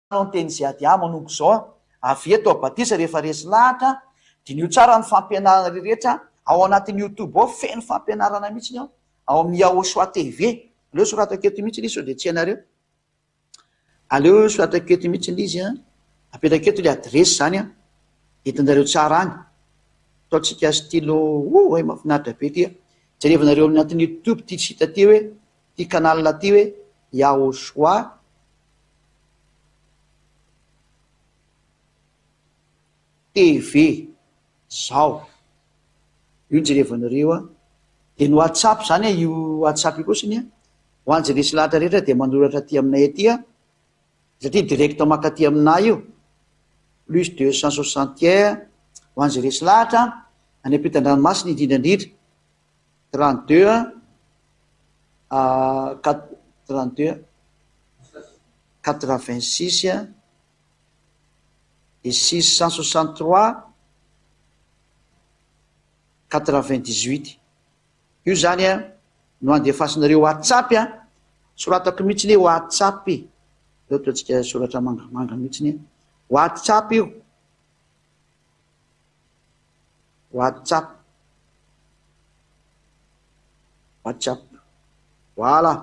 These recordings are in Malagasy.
Manao ny teny Ziadia manomboka izao aho, avy eto aho batisa rehefa resy lahatra, diniho tsara ny fampianarana rehetra ao anatin'ny youtube ao, feno fampianarana mihitsy ao amin'ny Yahoshua TV, aleo soratako eto mihitsy ilay izy sao dia tsy hainareo. Aleo soratako eto mihitsy ilay izy an! Apetrakao eto ilay adiresy izany an! Entinareo tsara any! Ataontsika stylo Oay mahafinaritra be ity a! Jerevanareo amin'ny anatin'ny youtube ity site ity hoe, ity canal ity hoe Yahoshua. TV zao io ny jerevanareo a! de ny WhatsApp zany a! io WhatsApp io koa zany a! ho an'i Jelisy lahatra rehetra dia manoratra aty aminay aty a! satria direct mankaty aminà io! plus deux cent soixante un ho an'i Jelisy lahatra a! any ampitan-dranomasina indrindra indrindra! trente deux a! quat trente deux a! quatre vingt six a! et six cent soixante trois quatre vingt dix huit io zany a no andefasinareo WhatsApp a soratako mihitsy ny WhatsApp e eo ataontsika soratra mangamanga mihitsy ny WhatsApp io WhatsApp WhatsApp voilà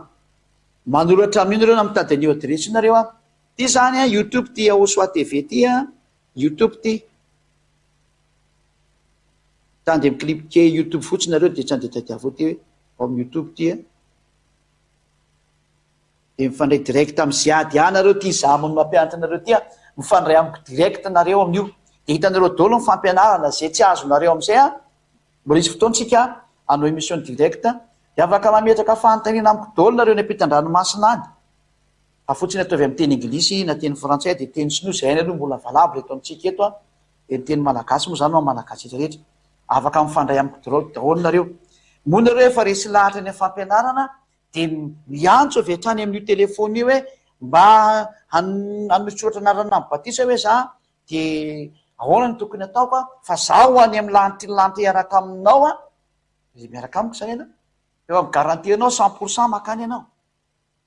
manoratra amin'io nareo na mitady an'io adiresy io nareo a Ty zany an youtube ty Yahosoa TV ty an youtube ty tany dia mi-clipquer youtube fotsiny nareo dia tsy handeha tadiavo ty hoe ao amin'ny youtube ty an dia mifandray direct amin'ny ziady ihany nareo ty izaho moa no mampianatra anareo ty an mifandray amiko direct nareo amin'io dia hitanareo daholo ny fampianarana izay tsy azonareo amin'izay an mbola hisy fotoana isika hanao émission direct dia afaka mametraka fanontaniana amiko daholo nareo any am-pitan-dranomasina any Afotsy ny ataovy amin'ny teny Engilisy na teny Frantsay dia teny Sinoa izay hainy aloha mbola valable eto amintsika eto an! dia ny teny Malagasy moa izany ho an'ny Malagasy rehetra rehetra. Afaka mifandray amin'ny kdorao daholo nareo. Moa nareo efa resy lahatra any amin'ny fampianarana dia miantso avy hatrany amin'io telephone io hoe mba hanosotra anarana amin'ny batisa hoe za dia ahoana no tokony ataoko an! fa za ho any amin'ny lanitry ny lanitra hiaraka aminao an! dia miaraka amiko izany ianao. Efa mi-garantie anao cent pour cent makany ianao.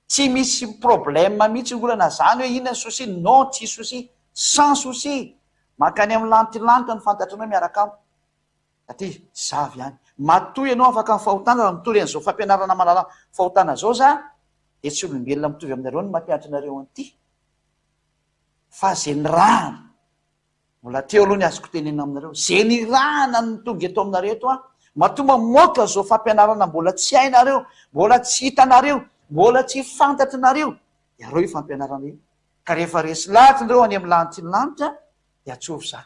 Tsy misy problème mihitsy ny olana zany hoe inona ny souci, non tsy souci, sans souci, mankany amin'ny lantilanitra ny fantatrareo miaraka amiko aty zava ihany, matoa ianao afaka ny fahotana raha mitory an'izao fampianarana malalany fahotana izao za dia tsy olombelona mitovy aminareo ny mampianatra anareo an'ity fa ze nirahana Mbola teo aloha ny azoko tenenina aminareo, ze nirahana no tonga eto aminareo eto an! Matoa mamoaka zo fampianarana mbola tsy hainareo, mbola tsy hitanareo, mbola tsy fantatrinareo iareo io fampianarana io, ka rehefa resy lahatra ndreo any amin'ny lanitry ny lanitra dia atsory za.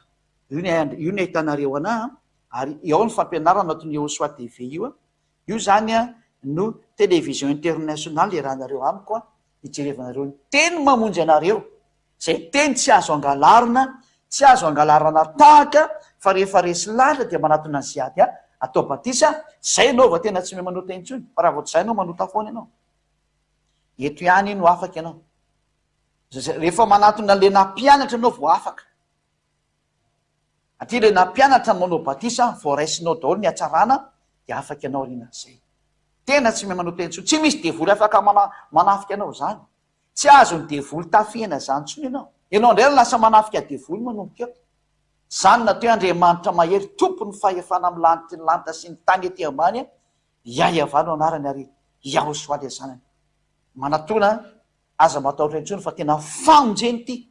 Io ny an, io ny ahitanareo anah an, ary ao ny fampianarana ato ny Ehosoa TV io an, io zany an no television international iarahanareo amiko an, hijerevanareo ny teny mamonjy anareo, Izay teny tsy azo angalarina, tsy azo angalarana tahaka fa rehefa resy lahatra dia manatona ny siady a, atao batisa a, izay ianao vao tena tsy mia manota intsony fa raha vao tsy izay ianao manota foana ianao. Eto ihany no afaka ianao. Rehefa manatona an'ilay nampianatra ianao vao afaka. Aty ilay nampianatra ny manao batisa vao raisinao daholo ny hatsarana dia afaka ianao aorianan'izay. Tena tsy mia manota intsony. Tsy misy devoly afaka manafika anao izany. Tsy azon'ny devoly tafihina izany intsony ianao. Ianao indray no lasa manafika devoly manomboka eo. Izany nataoi Andriamanitra mahery tompon'ny fahefana amin'ny lanitry ny lanitra sy ny tany ety ambany a! Yahvah no anarany ary Yahosoa ilay zanany. Manatona an! Aza matahotra intsony fa tena famonjena ity.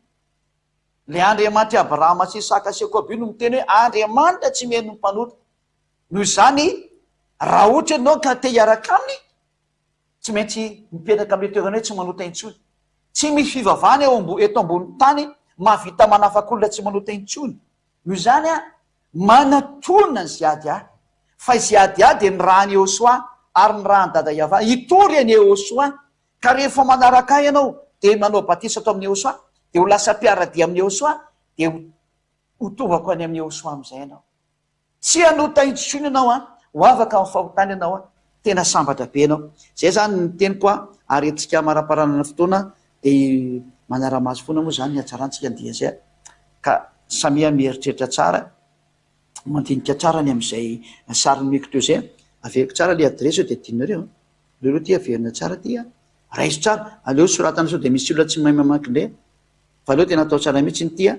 Ilay Andriamanitr'i Abrahama sy Isaka sy Jakoba io no miteny hoe Andriamanitra tsy mihaino ny mpanota. Noho izany, raha ohatra ianao ka te hiaraka aminy, Tsy maintsy mipetraka amin'ilay toerana hoe tsy manota intsony. Tsy misy fivavahana eo ambo, eto ambonin'ny tany mahavita manafaka olona tsy manota intsony. Noho izany aho manatona ny Ziadia ahy. Fa i Ziadia dia ny ràn'i Iehosoa ary ny ràn'i Dada Iavà. Hitory an'i Iehosoa. Ka rehefa manaraka ahy ianao, dia manao batisa ato amin'i Iehosoa, dia ho lasa mpiara-dia amin'i Iehosoa, dia ho, ho tovako any amin'i Iehosoa amin'izay ianao. Tsy hanota intsony ianao an! Ho avaka amin'ny fahotana ianao an! Tena sambatra be ianao. Izay izany ny teniko an! Ary antsika hamaraparanana ny fotoana dia manara-maso foana moa izany ny hatsarantsika ny dia izay ka samia mieritreritra tsara, mandinika tsara ny amin'izay sary nomeko teo izay an! Averiko tsara ilay adiresy sao dia adinonareo an! Aleo aloha ity averina tsara ity an! Raiso tsara, aleo soratana sao dia misy olona tsy mahay mamaky indray an! Fa aleo tena atao tsara mihitsy ity an!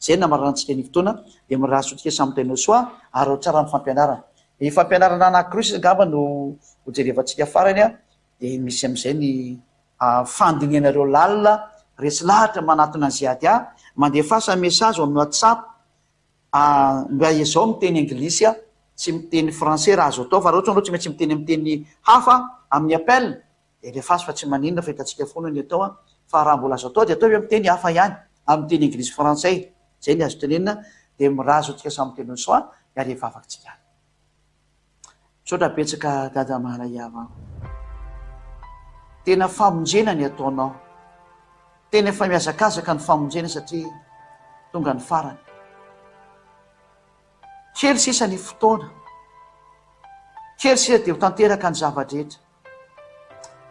Izay no namararantsika ny fotoana dia mirary soa antsika samy Tainos soa ary ao tsara ny fampianarana. Ny fampianarana anankiroa sisa angamba no ho jerevantsika farany a, dia misy amin'izay ny fandinihanareo lalina resy lahatra manatona an'i Ziadia, mandefasa message ao amin'ny WhatsApp a, mba ezao miteny anglisy a, tsy miteny français raha azo atao fa raha ohatra ianao tsy maintsy miteny amin'ny teny hafa amin'ny appel, Elifazy fa tsy maninona fa hitantsika foana ny atao an! fa raha mbola azo atao dia atao eo amin'ny teny hafa ihany, amin'ny teny Anglisy sy Frantsay, izay ny azo tenenina, dia mirazo antsika samy miteny hoe soa miala eo vavatsika any. Misaotra betsaka Dada Mahalaiava an! Tena famonjena ny ataonao. Tena efa mihazakazaka ny famonjena satria tonga ny farany. Kely sisa ny fotoana. Kely sisa dia ho tanteraka ny zava-drehetra.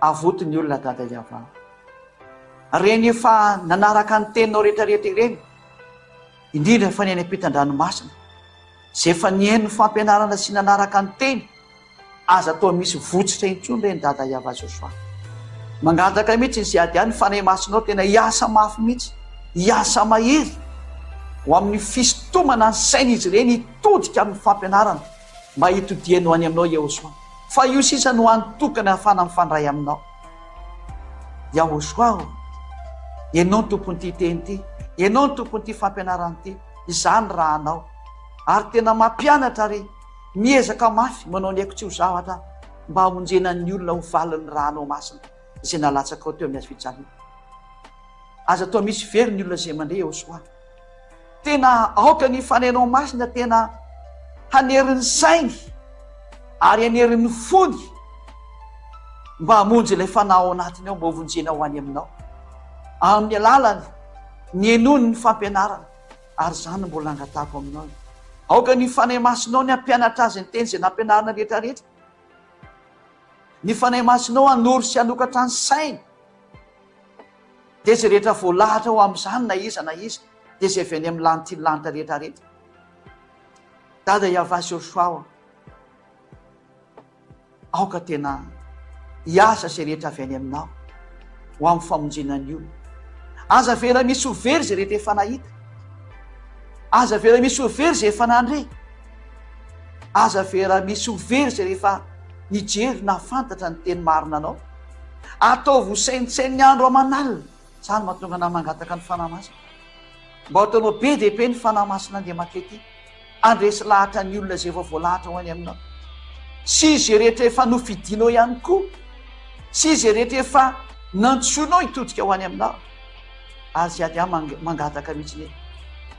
Avoty ny olona dada Yavah. Reny efa nanaraka ny teninao rehetra rehetra ireny, indrindra fa ny any ampitan-dranomasina, izay efa nihaino ny fampianarana sy nanaraka ny teny, aza toa misy votsitra intsony ireny dada Yavah Joshua. Mangataka mihitsy ny Ziadia ny Fanahy Masinao tena hiasa mafy mihitsy, hiasa mahery ho amin'ny fisintomana ny sain'izy ireny hitodika amin'ny fampianarana. Mba hitodiany ho any aminao Yehosua fa io sisa no andro tokana ahafahana mifandray aminao Yahosua ô! Ianao no tompon'ity teny ity, Ianao no tompon'ity fampianarana ity, izaho ny rahanao ary tena mampianatra ary miezaka mafy manao ny haiko tsy ho zavatra mba hamonjena ny olona ho valin'ny rahanao masina izay nalatsakao teo amin'ny hazo fijaliana. Aza atao misy velona ny olona izay mandre Yehosua. Tena aoka ny Fanahinao Masina tena hanery ny sainy ary hanery ny fony mba hamonjy ilay fanahy ao anatiny ao mba hovonjena ho any Aminao amin'ny alalany ny henoany ny fampianarana ary izany no mbola angatahako Aminao e. Aoka ny Fanahy Masinao ny hampianatra azy ny teny izay nampianarina rehetra rehetra. Ny Fanahy Masinao hanoro sy hanokatra ny sainy. Dia izay rehetra voalahatra ao amin'izany na iza na iza, dia izay avy any amin'ny lanitry ny lanitra rehetrarehetra. Dada Yavah sy Yoshoua ô, aoka tena hiasa izay rehetra avy any aminao ho amin'ny famonjena ny olona. Aza avela misy ho very izay rehetra efa nahita. Aza avela misy ho very izay efa nandre. Aza avela misy ho very izay rehefa nijery nahafantatra ny teny marina anao. Ataovy ho saintsaino ny andro aman'alina, izany mahatonga anao mangataka ny Fanahy Masina. Mba ataonao be dia be ny Fanahy Masin'Andriamanitra ity, handresy lahatra ny olona izay efa voalahatra ho any aminao, sy izay rehetra efa nofidinao ihany koa, sy izay rehetra efa nantsoinao hitodika ho any aminao. Azy iady aho mangataka mihitsy anie,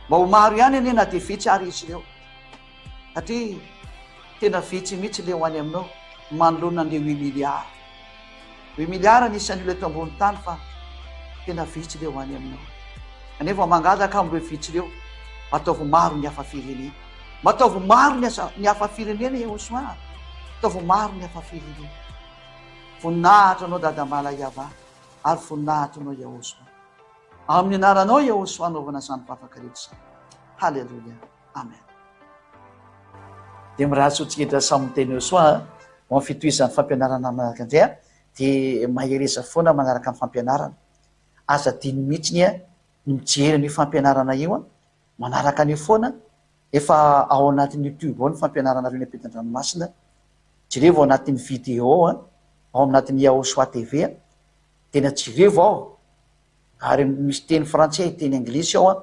mba ho maro ihany anie na dia vitsy ary izy ireo. satria tena vitsy mihitsy le ho any aminao manoloana an'le huit milliards huit milliards anisan'ny olona eto ambony tany fa tena vitsy le ho any aminao ane vao mangataka amin'ireo vitsy ireo mataovy maro ny hafa firenena mataovy maro ny asa ny hafa firenena e osoa mataovy maro ny hafa firenena voninahitra anao dadamala iava ary voninahitra anao iaosoa amin'ny anaranao iaosoa anaovana izany vavaka rehetra izany haleloia Amen. Dia mirary soa tsiketra samy miteny eo soa ho amin'ny fitohizan'ny fampianarana manaraka indray a. Dia mahereza foana manaraka ny fampianarana. Aza adino mihitsy ny ny mijery an'io fampianarana io a. Manaraka an'io foana. Efa ao anatin'ny YouTube ao ny fampianaranareo ny ampitan-dranomasina. Jerevo ao anatin'ny vidéo a, ao anatin'ny Yahoshua TV a. Dia na jerevo ao ary misy teny frantsay, teny anglisy ao an,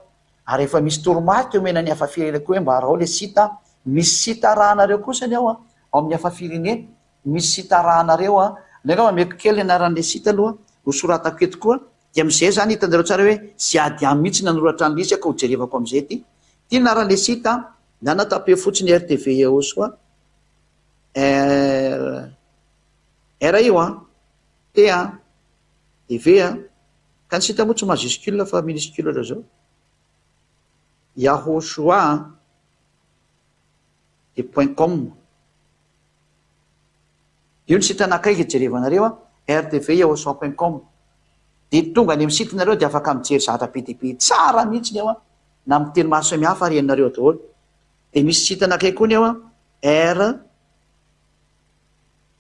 ary efa misy toromarika omena ny hafa firenena koa hoe mba arao ilay site an, misy site arahanareo kosa ny ao an, ao amin'ny hafa firenena, misy site arahanareo an, nde angamba ameko kely ny anaran'ilay site aloha ho soratako eto koa, dia amin'izay izany hitanareo tsara hoe tsy ady aminy mihitsy nanoratra an'ilay izy aho ka ho jerevako amin'izay ity, ity ny anaran'ilay site an, na na tapez fotsiny rtv eosoa. Ry. Ry io an. T a! Dia V a! Ka ny sita moa tsy majuscule fa minuscule ohatr'izao. Yahoshua a! Dia point com. Io ny site anankiray izay jerevanareo a! Rtv-yahoshua point com. Dia tonga any amin'ny site-nareo dia afaka mijery zavatra be dia be tsara mihitsy ao a! Na amin'ny teny maro samihafa ary henonareo ao daholo. Dia misy site anankiray koa ny ao a! R.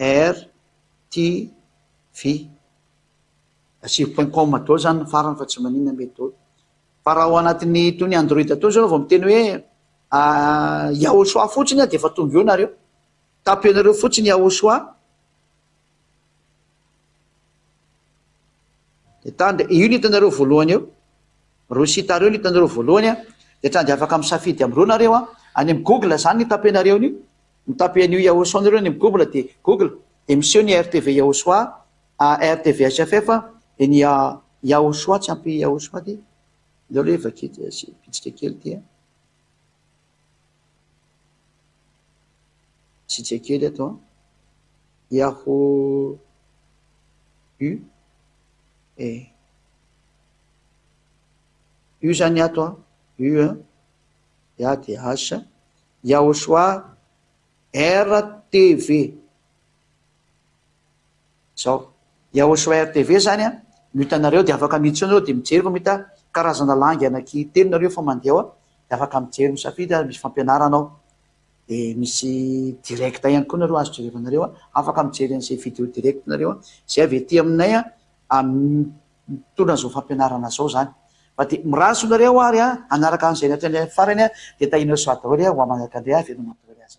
RTV. Asivo point com daholo zany ny farany fa tsy maninona mety daholo. Fa raha ao anatin'ny itony android tony zao vao miteny hoe yahoshua fotsiny aho dia efa tonga eo nareo. Tapio anareo fotsiny yahoshua. Dia tany dia io no hitanareo voalohany eo. Ireo site ireo no hitanareo voalohany an. Dia tany dia afaka misafidy amin'ireo nareo an. Any amin'ny google izany no hitapenareo an'io. Mitape an'io Yahoo Sound ireo any amin'ny google dia google dia miseho ny ARTV Yahoshua, ARTV HFF dia ny Yahoshua tsy ampy Yahoshua ity. Aleo aloha iavaky ity, asiako bitsika kely ity an. Tsitsika kely eto an! Yahoo! U E U zany ato an! U an! Ya dia H Yahosoa R TV Zao. Yahoshua rtv zany an, no hitanareo dia afaka miditra ao nareo dia mijery fa mahita karazana langue anaky telo nareo fa mandeha ao dia afaka mijery misafidy ary misy fampianarana ao dia misy direct ihany koa nareo azo jerevanareo an, afaka mijery anizay video direct nareo an, zay avy aty aminay an, mitondra anzao fampianarana zao zany fa dia mirazo nareo ary an, hanaraka anizay nataonay farany an dia tahinao soa daholo an, ho amanaraka ndray an, avereno mandoa ny asa.